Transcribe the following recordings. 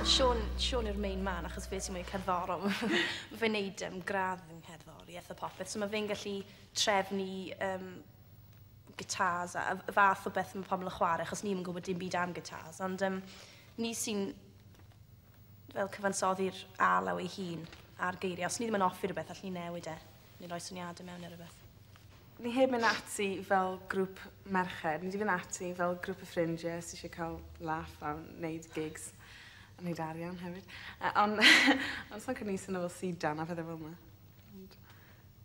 Siôn, Siôn yw'r main man achos fe sy'n mwy cerddorol. Mae fe'n neud um, gradd yn cerddoriaeth a popeth, so mae fe'n gallu trefnu um, gitars a y fath o beth mae pobl yn chwarae, achos ni'n gwybod dim byd am gitars, ond um, ni sy'n fel cyfansoddi'r alaw ei hun a'r geiriau. Os ni ddim yn offi rhywbeth, allwn ni newid e. Neu roi syniadau mewn neu rhywbeth. Ni heb mynd ati fel grŵp merched. Ni wedi mynd ati fel grŵp o ffrindiau sydd eisiau cael laff a wneud gigs. A wneud arian hefyd. Uh, ond on sa'n cynnig sy'n fel sidan a pethau fel yma. Ond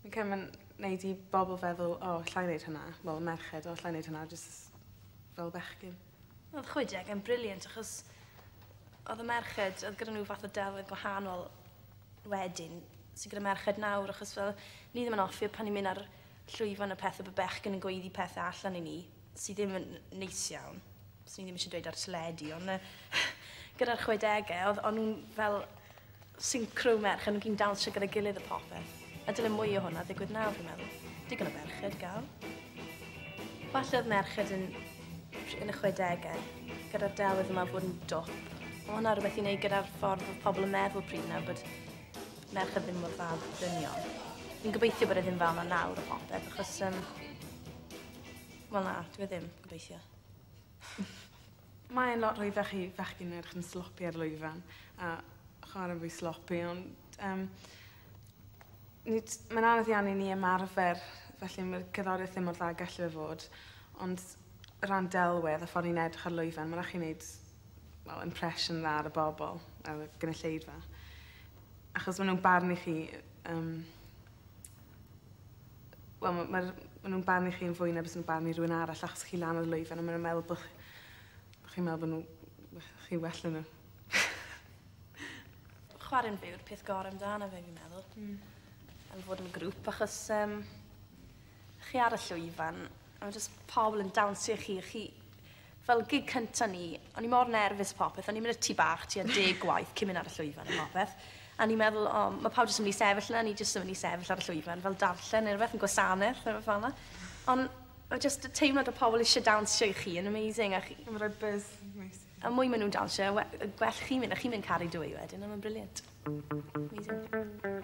ni'n cael mynd wneud i bobl feddwl, o, oh, llai wneud hynna. Wel, merched, o, oh, llai wneud hynna, jyst fel bechgyn. Odd chwe deg yn brilliant achos odd y merched odd gyda n'w fath o delwedd gwahanol wedyn sy gyda merched nawr achos fel ni ddim yn offi pan ni'n myn' ar llwyfan a pethe bo' bechgyn yn gweiddi pethe allan i ni sy ddim yn neis iawn. Swn i ddim isie dweud ar teledu on' yy gyda'r chwe dege odd o'n nw'n fel Synchro merch yn gyn dawnsio gyda'i gilydd a phopeth. A dyle mwy o hwnna ddigwydd nawr, fi'n meddwl. Digon o ferched gael. Falle oedd merched yn, yn y 60au, gyda'r delwedd yma fod yn dwp. Mae hwnna rhywbeth i wneud gyda'r ffordd oedd pobl yn meddwl pryd nawr bod merched ddim mor dda bod dynion. Fi'n gobeithio bod e ddim fel yna nawr o popeth, achos... Um, Wel na, dwi e ddim, gobeithio. Mae e'n lot rhwyddach i fechgyn yn edrych yn sloppy ar lwyfan a chware'n fwy sloppy ond yym nid... Mae'n anodd iawn i ni ymarfer felly ma'r cerddorieth ddim mor dda ag elle fe fod ond o ran delwedd a ffor ni'n edrych ar lwyfan ma' rai' chi neud wel impression dda ar y bobol ar y gynulleidfa. Achos ma' nw'n barnu chi yym wel ma' ma'r ma' nw'n barnu chi yn fwy na bysa nw'n barnu rywun arall achos chi lan ar y lwyfan a ma' nw'n meddwl bo' chi bo' chi'n meddwl bo' n'w we- chi well na n'w. Chware'n byw yw'r peth gore amdano fe fi'n meddwl. Hmm. Yn fod yn grŵp achos yym chi ar y llwyfan a ma' jys pobol yn dawnsio i chi a chi Fel gig cynta ni, o'n i mor nerfus a popeth, o'n i'n mynd i'r tŷ bach tua deg gwaith cyn mynd ar y llwyfan a popeth, a o'n i'n meddwl o ma' pawb jyst yn mynd i sefyll 'na, o'n i jyst yn mynd i sefyll ar y llwyfan fel darllen neu rwbeth yn gwasaneth neu rwbeth felna. Ond ma' jyst y teimlad o pobol isie dawnsio i chi yn amazing a chi... Ma'n roi buzz neis. A mwy ma' nw'n dawnsio y we- y gwell chi'n mynd a chi'n mynd caru dwy wedyn a ma'n brilliant. Amazing.